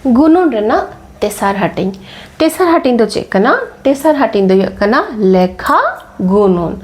ᱜᱩᱱᱩᱱ ᱨᱮᱱᱟᱜ ᱛᱮᱥᱟᱨ ᱦᱟᱹᱴᱤᱧ ᱛᱮᱥᱟᱨ ᱦᱟᱹᱴᱤᱧ ᱫᱚ ᱪᱮᱫ ᱠᱟᱱᱟ ᱛᱮᱥᱟᱨ ᱦᱟᱹᱴᱤᱧ ᱫᱚ ᱦᱩᱭᱩᱜ ᱠᱟᱱᱟ ᱞᱮᱠᱷᱟ ᱜᱩᱱᱩᱱ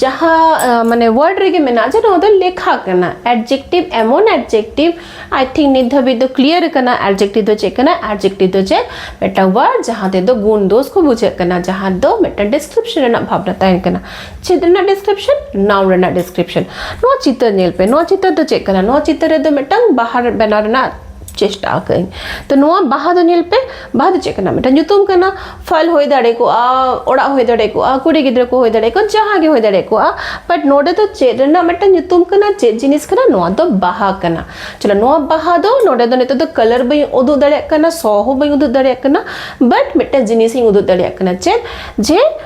ᱡᱟᱦᱟᱸ ᱢᱟᱱᱮ ᱣᱟᱨᱰ ᱨᱮᱜᱮ ᱢᱮᱱᱟᱜᱼᱟ ᱡᱮ ᱱᱚᱣᱟ ᱫᱚ ᱞᱮᱠᱷᱟ ᱠᱟᱱᱟ ᱮᱰᱡᱮᱠᱴᱤᱵᱽ ᱮᱢᱚᱱ ᱮᱰᱡᱮᱠᱴᱤᱵᱽ ᱟᱭ ᱛᱷᱤᱝᱠ ᱱᱤᱛ ᱫᱷᱟᱹᱵᱤᱡ ᱫᱚ ᱠᱞᱤᱭᱟᱨ ᱠᱟᱱᱟ ᱮᱰᱡᱮᱠᱴᱤᱵᱽ ᱫᱚ ᱪᱮᱫ ᱠᱟᱱᱟ ᱮᱰᱡᱮᱠᱴᱤᱵᱽ ᱫᱚ ᱪᱮᱫ ᱢᱤᱫᱴᱟᱝ ᱣᱟᱨᱰ ᱡᱟᱦᱟᱸ ᱛᱮᱫᱚ ᱜᱩᱱ ᱫᱳᱥ ᱠᱚ ᱵᱩᱡᱷᱟᱹᱜ ᱠᱟᱱᱟ ᱡᱟᱦᱟᱸ ᱫᱚ ᱢᱤᱫᱴᱟᱝ ᱰᱤᱥᱠᱨᱤᱯᱥᱚᱱ ᱨᱮᱱᱟᱜ ᱵᱷᱟᱵᱽᱱᱟ ᱛᱟᱦᱮᱱ ᱠᱟᱱᱟ ᱪᱤᱛᱟᱹᱨ ᱨᱮᱱᱟᱜ ᱰᱤᱥᱠᱨᱤᱯᱥᱚᱱ ᱱᱟᱣᱩᱱ ᱨᱮᱱᱟᱜ ᱰᱤᱥᱠᱨᱤᱯᱥᱚᱱ ᱱᱚᱣᱟ ᱪᱤᱛᱟᱹᱨ ᱧᱮᱞ ᱯᱮ ᱱᱚᱣᱟ ᱪᱤᱛᱟᱹᱨ ᱫᱚ ᱪᱮᱫ ᱠᱟᱱᱟ ᱱᱚᱣᱟ ᱪᱤᱛᱟᱹᱨ ᱨᱮᱫᱚ ᱢᱤᱫᱴᱟᱝ ᱵᱟᱦᱟ ᱵᱮᱱᱟᱣ ᱨᱮᱱᱟᱜ ᱪᱮᱥᱴᱟ ᱟᱠᱟᱫᱟᱹᱧ ᱛᱚ ᱱᱚᱣᱟ ᱵᱟᱦᱟ ᱫᱚ ᱧᱮᱞ ᱯᱮ ᱵᱟᱦᱟ ᱫᱚ ᱪᱮᱫ ᱠᱟᱱᱟ ᱢᱤᱫᱴᱟᱝ ᱧᱩᱛᱩᱢ ᱠᱟᱱᱟ ᱯᱷᱚᱞ ᱦᱩᱭ ᱫᱟᱲᱮ ᱠᱚᱜᱼᱟ ᱚᱲᱟᱜ ᱦᱩᱭ ᱫᱟᱲᱮ ᱠᱚᱜᱼᱟ ᱠᱩᱲᱤ ᱜᱤᱫᱽᱨᱟᱹ ᱠᱚ ᱦᱩᱭ ᱫᱟᱲᱮ ᱠᱚᱜᱼᱟ ᱡᱟᱦᱟᱸ ᱜᱮ ᱦᱩᱭ ᱫᱟᱲᱮ ᱠᱚᱜᱼᱟ ᱵᱟᱴ ᱱᱚᱰᱮ ᱫᱚ ᱪᱮᱫ ᱨᱮᱱᱟᱜ ᱢᱤᱫᱴᱟᱝ ᱧᱩᱛᱩᱢ ᱠᱟᱱᱟ ᱪᱮᱫ ᱡᱤᱱᱤᱥ ᱠᱟᱱᱟ ᱱᱚᱣᱟ ᱫᱚ ᱵᱟᱦᱟ ᱠᱟᱱᱟ ᱪᱚᱞᱚ ᱱᱚᱣᱟ ᱵᱟᱦᱟ ᱫᱚ ᱱᱚᱰᱮ ᱫᱚ ᱱᱤᱛᱚᱜ ᱫᱚ ᱠᱟᱞᱟᱨ ᱵᱟᱹᱧ ᱩᱫᱩᱜ ᱫᱟᱲᱮᱭᱟᱜ ᱠᱟᱱᱟ ᱥᱚ ᱦᱚᱸ ᱵᱟᱹᱧ ᱩᱫᱩᱜ ᱫᱟᱲᱮᱭᱟᱜ ᱠᱟᱱᱟ ᱵᱟᱴ ᱢᱤᱫᱴᱟᱝ ᱡᱤᱱᱤᱥᱤᱧ ᱩᱫᱩᱜ ᱫᱟᱲᱮᱭᱟᱜ ᱠᱟᱱᱟ ᱪᱮᱫ ᱡᱮ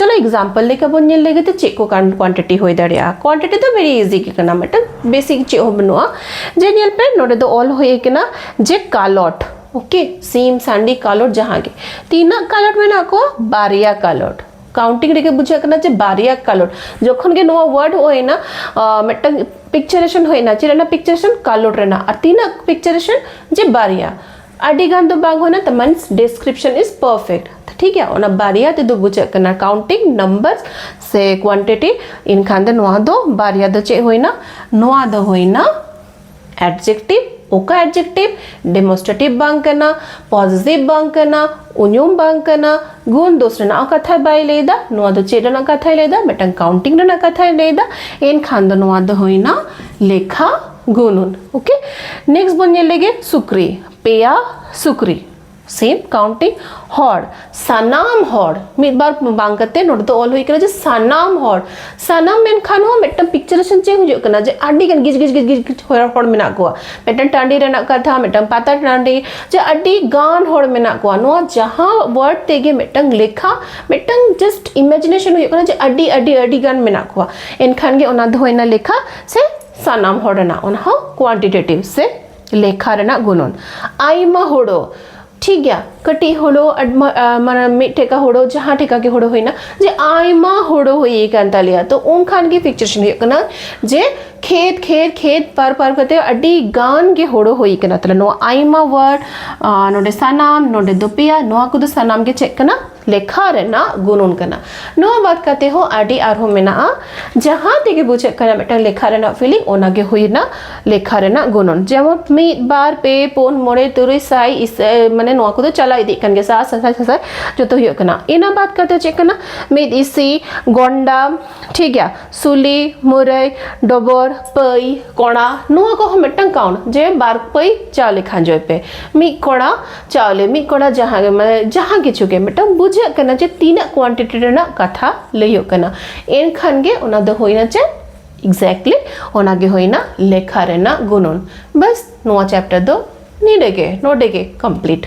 ᱪᱚᱞᱚ ᱮᱠᱡᱟᱢᱯᱚᱞ ᱞᱮᱠᱟ ᱵᱚᱱ ᱧᱮᱞ ᱞᱮᱜᱮ ᱛᱮ ᱪᱮᱫ ᱠᱚ ᱠᱣᱟᱱᱴᱤᱴᱤ ᱦᱩᱭ ᱫᱟᱲᱮᱭᱟᱜᱼᱟ ᱠᱣᱟᱱᱴᱤᱴᱤ ᱫᱚ ᱵᱷᱮᱨᱤ ᱤᱡᱤ ᱜᱮ ᱠᱟᱱᱟ ᱢᱤᱫᱴᱟᱝ ᱵᱮᱥᱤᱠ ᱪᱮᱫ ᱦᱚᱸ ᱵᱟᱹᱱᱩᱜᱼᱟ ᱡᱮ ᱧᱮᱞ ᱯᱮ ᱱᱚᱰᱮ ᱫᱚ ᱚᱞ ᱦᱩᱭ ᱠᱟᱱᱟ ᱡᱮ ᱠᱟᱞᱚᱴ ᱳᱠᱮ ᱥᱤᱢ ᱥᱟᱺᱰᱤ ᱠᱟᱞᱚᱴ ᱡᱟᱦᱟᱸ ᱜᱮ ᱛᱤᱱᱟᱹᱜ ᱠᱟᱞᱚᱴ ᱢᱮᱱᱟᱜ ᱠᱚᱣᱟ ᱵᱟᱨᱭᱟ ᱠᱟᱞᱚᱴ ᱠᱟᱣᱩᱱᱴᱤᱝ ᱨᱮᱜᱮ ᱵᱩᱡᱷᱟᱹᱜ ᱠᱟᱱᱟ ᱡᱮ ᱵᱟᱨᱭᱟ ᱠᱟᱞᱚᱴ ᱡᱚᱠᱷᱚᱱ ᱜᱮ ᱱᱚᱣᱟ ᱣᱟᱨᱰ ᱦᱩᱭᱱᱟ ᱢᱤᱫᱴᱟᱝ ᱯᱤᱠᱪᱟᱨᱮᱥᱚᱱ ᱦᱩᱭᱱᱟ ᱪᱮᱫ ᱨᱮᱱᱟᱜ ᱯᱤᱠᱪᱟᱨᱮᱥᱚᱱ ᱠᱟᱞᱚᱴ ᱨᱮᱱᱟᱜ ᱟᱨ ᱛᱤᱱᱟᱹᱜ ᱯᱤᱠᱪᱟᱨᱮᱥᱚᱱ ᱡᱮ ᱵᱟᱨᱭᱟ ᱟᱹᱰᱤ ᱜᱟᱱ ᱫᱚ ᱵᱟᱝ ᱦᱩᱭᱱᱟ ᱛᱚ ᱢᱟᱱᱮ ᱰᱮᱥᱠᱨᱤᱯᱥᱚᱱ ᱤᱡ ᱯᱟᱨᱯᱷᱮᱠᱴ ᱴᱷᱤᱠ ᱜᱮᱭᱟ ᱚᱱᱟ ᱵᱟᱨᱭᱟ ᱛᱮᱫᱚ ᱵᱩᱡᱷᱟᱹᱜ ᱠᱟᱱᱟ ᱠᱟᱣᱩᱱᱴᱤᱝ ᱱᱟᱢᱵᱟᱨ ᱥᱮ ᱠᱣᱟᱱᱴᱤᱴᱤ ᱤᱱᱠᱷᱟᱱ ᱫᱚ ᱱᱚᱣᱟ ᱫᱚ ᱵᱟᱨᱭᱟ ᱫᱚ ᱪᱮᱫ ᱦᱩᱭᱱᱟ ᱱᱚᱣᱟ ᱫᱚ ᱦᱩᱭᱱᱟ ᱮᱰᱡᱮᱠᱴᱤᱵᱷ ᱚᱠᱟ ᱮᱰᱡᱮᱠᱴᱤᱵᱷ ᱰᱮᱢᱚᱱᱥᱴᱨᱮᱴᱤᱵᱷ ᱵᱟᱝ ᱠᱟᱱᱟ ᱯᱚᱡᱮᱴᱤᱵᱷ ᱵᱟᱝ ᱠᱟᱱᱟ ᱩᱧᱩᱢ ᱵᱟᱝ ᱠᱟᱱᱟ ᱜᱩᱱ ᱫᱳᱥ ᱨᱮᱱᱟᱜ ᱠᱟᱛᱷᱟ ᱵᱟᱭ ᱞᱟᱹᱭᱫᱟ ᱱᱚᱣᱟ ᱫᱚ ᱪᱮᱫ ᱨᱮᱱᱟᱜ ᱠᱟᱛᱷᱟᱭ ᱞᱟᱹᱭᱫᱟ ᱢᱤᱫᱴᱟᱝ ᱠᱟᱣᱩᱱᱴᱤᱝ ᱨᱮᱱᱟᱜ ᱠᱟᱛᱷᱟᱭ ᱞᱟᱹᱭᱫᱟ ᱮᱱᱠᱷᱟᱱ ᱫᱚ ᱱᱚᱣᱟ ᱫᱚ ᱦᱩᱭᱱᱟ ᱞᱮᱠᱷᱟ ᱜᱩᱱᱩᱱ ᱳᱠᱮ ᱱᱮᱠᱥᱴ ᱵᱚᱱ ᱧᱮᱞ ᱞᱮᱜᱮ ᱥᱩᱠᱨᱤ ᱯᱮᱭᱟ ᱥᱩᱠᱨᱤ ᱥᱮᱢ ᱠᱟᱣᱩᱱᱴᱤᱝ ᱦᱚᱲ ᱥᱟᱱᱟᱢ ᱦᱚᱲ ᱢᱤᱫ ᱵᱟᱨ ᱵᱟᱝ ᱠᱟᱛᱮ ᱱᱚᱰᱮ ᱫᱚ ᱚᱞ ᱦᱩᱭ ᱠᱟᱱᱟ ᱡᱮ ᱥᱟᱱᱟᱢ ᱦᱚᱲ ᱥᱟᱱᱟᱢ ᱢᱮᱱᱠᱷᱟᱱ ᱦᱚᱸ ᱢᱤᱫᱴᱟᱝ ᱯᱤᱠᱪᱟᱨᱮᱥᱚᱱ ᱪᱮᱫ ᱦᱩᱭᱩᱜ ᱠᱟᱱᱟ ᱡᱮ ᱟᱹᱰᱤ ᱜᱟᱱ ᱜᱤᱡ ᱜᱤᱡ ᱜᱤᱡ ᱜᱤᱡ ᱜᱤᱡ ᱦᱚᱲ ᱦᱚᱲ ᱢᱮᱱᱟᱜ ᱠᱚᱣᱟ ᱢᱤᱫᱴᱟᱝ ᱴᱟᱺᱰᱤ ᱨᱮᱱᱟᱜ ᱠᱟᱛᱷᱟ ᱢᱤᱫᱴᱟᱝ ᱯᱟᱛᱟ ᱴᱟᱺᱰᱤ ᱡᱮ ᱟᱹᱰᱤ ᱜᱟᱱ ᱦᱚᱲ ᱢᱮᱱᱟᱜ ᱠᱚᱣᱟ ᱱᱚᱣᱟ ᱡᱟᱦᱟᱸ ᱣᱟᱨᱰ ᱛᱮᱜᱮ ᱢᱤᱫᱴᱟᱝ ᱞᱮᱠᱷᱟ ᱢᱤᱫᱴᱟᱝ ᱡᱟᱥᱴ ᱤᱢᱮᱡᱤᱱᱮᱥᱚᱱ ᱦᱩᱭᱩᱜ ᱠᱟᱱᱟ ᱡᱮ ᱟᱹᱰᱤ ᱟᱹᱰᱤ ᱟᱹᱰᱤ ᱜᱟᱱ ᱢᱮᱱᱟᱜ ᱠᱚᱣᱟ ᱮᱱᱠᱷᱟᱱ ᱜᱮ ᱚᱱᱟ ᱫᱚ ᱦᱩᱭᱱᱟ ᱞᱮᱠᱷᱟ ᱥᱮ ᱥᱟᱱᱟᱢ ᱦᱚᱲ ᱨᱮᱱᱟᱜ ᱚᱱᱟ ᱦᱚᱸ ᱠᱣᱟᱱᱴᱤᱴᱮᱴᱤᱵᱷ ᱥᱮ ᱞᱮᱠᱷᱟ ᱨᱮᱱᱟᱜ ᱜᱩᱱᱚᱱ ᱟᱭᱢᱟ ᱦᱳᱲᱳ ᱴᱷᱤᱠ ᱜᱮᱭᱟ ᱠᱟᱹᱴᱤᱡ ᱦᱳᱲᱳ ᱢᱟᱱᱮ ᱢᱤᱫ ᱴᱷᱮᱠᱟ ᱦᱳᱲᱳ ᱡᱟᱦᱟᱸ ᱴᱷᱮᱠᱟ ᱜᱮ ᱦᱳᱲᱳ ᱦᱩᱭᱱᱟ ᱡᱮ ᱟᱭᱢᱟ ᱦᱳᱲᱳ ᱦᱩᱭ ᱟᱠᱟᱱ ᱛᱟᱞᱮᱭᱟ ᱛᱚ ᱩᱱᱠᱷᱟᱱ ᱜᱮ ᱯᱤᱠᱪᱟᱨᱮᱥᱚᱱ ᱦᱩᱭᱩᱜ ᱠᱟᱱᱟ ᱡᱮ ᱠᱷᱮᱛ ᱠᱷᱮᱛ ᱠᱷᱮᱛ ᱯᱟᱨ ᱯᱟᱨ ᱠᱟᱛᱮ ᱟᱹᱰᱤ ᱜᱟᱱ ᱜᱮ ᱦᱳᱲᱳ ᱦᱩᱭ ᱟᱠᱟᱱᱟ ᱛᱟᱦᱞᱮ ᱱᱚᱣᱟ ᱟᱭᱢᱟ ᱣᱟᱨᱰ ᱱᱚᱰᱮ ᱥᱟᱱᱟᱢ ᱱᱚᱰᱮ ᱫᱚ ᱯᱮᱭᱟ ᱱᱚᱣᱟ ᱠᱚᱫᱚ ᱥᱟᱱᱟᱢ ᱜᱮ ᱪᱮᱫ ᱠᱟᱱᱟ ᱞᱮᱠᱷᱟ ᱨᱮᱱᱟᱜ ᱜᱩᱱᱩᱱ ᱠᱟᱱᱟ ᱱᱚᱣᱟ ᱵᱟᱫ ᱠᱟᱛᱮ ᱦᱚᱸ ᱟᱹᱰᱤ ᱟᱨᱦᱚᱸ ᱢᱮᱱᱟᱜᱼᱟ ᱡᱟᱦᱟᱸ ᱛᱮᱜᱮ ᱵᱩᱡᱷᱟᱹᱜ ᱠᱟᱱᱟ ᱢᱤᱫᱴᱟᱝ ᱞᱮᱠᱷᱟ ᱨᱮᱱᱟᱜ ᱯᱷᱤᱞᱤᱝ ᱚᱱᱟ ᱜᱮ ᱦᱩᱭᱱᱟ ᱞᱮᱠᱷᱟ ᱨᱮᱱᱟᱜ ᱜᱩᱱᱩᱱ ᱡᱮᱢᱚᱱ ᱢᱤᱫ ᱵᱟᱨ ᱯᱮ ᱯᱩᱱ ᱢᱚᱬᱮ ᱛᱩᱨᱩᱭ ᱥᱟᱭ ᱢᱟᱱᱮ ᱱᱚᱣᱟ ᱠᱚᱫᱚ ᱪᱟᱞᱟᱣ ᱤᱫᱤᱜ ᱠᱟᱱ ᱜᱮᱭᱟ ᱥᱟᱭ ᱥᱟᱥᱟᱭ ᱥᱟᱥᱟᱭ ᱡᱚᱛᱚ ᱦᱩᱭᱩᱜ ᱠᱟᱱᱟ ᱤᱱᱟᱹ ᱵᱟᱫ ᱠᱟᱛᱮ ᱪᱮᱫ ᱠᱟᱱᱟ ᱢᱤᱫ ᱤᱥᱤ ᱜᱚᱱᱰᱟ ᱴᱷᱤᱠ ᱜᱮᱭᱟ ᱥᱩᱞᱤ ᱢᱩᱨᱟᱹᱭ ᱰᱚᱵᱚᱨ ᱯᱟᱹᱭ ᱠᱚᱲᱟ ᱱᱚᱣᱟ ᱠᱚᱦᱚᱸ ᱢᱤᱫᱴᱟᱝ ᱠᱟᱣᱩᱱᱴ ᱡᱮ ᱵᱟᱨ ᱯᱟᱹᱭ ᱪᱟᱣᱞᱮ ᱠᱷᱟᱸᱡᱚᱭ ᱯᱮ ᱢᱤᱫ ᱠᱚᱲᱟ ᱪᱟᱣᱞᱮ ᱢᱤᱫ ᱠᱚᱲᱟ ᱡᱟᱦᱟᱸ ᱢᱟᱱᱮ ᱡᱟᱦᱟᱸ ᱠᱤᱪᱷᱩ ᱜᱮ ᱢᱤᱫᱴᱟᱝ ᱵᱩᱡᱷᱟᱹᱜ ᱠᱟᱱᱟ ᱡᱮ ᱛᱤᱱᱟᱹᱜ ᱠᱣᱟᱱᱴᱤᱴᱤ ᱨᱮᱱᱟᱜ ᱠᱟᱛᱷᱟ ᱞᱟᱹᱭᱚᱜ ᱠᱟᱱᱟ ᱮᱱᱠᱷᱟᱱ ᱜᱮ ᱚᱱᱟ ᱫᱚ ᱦᱩᱭᱱᱟ ᱪᱮᱫ ᱮᱠᱡᱮᱠᱴᱞᱤ ᱚᱱᱟ ᱜᱮ ᱦᱩᱭᱱᱟ ᱞᱮᱠᱷᱟ ᱨᱮᱱᱟᱜ ᱜᱩᱱᱚᱱ ᱵᱟᱥ ᱱᱚᱣᱟ ᱪᱮᱯᱴᱟᱨ ᱫᱚ ᱱᱤᱰᱮ ᱜᱮ ᱱᱚᱰᱮ ᱜᱮ ᱠᱚᱢᱯᱞᱤᱴ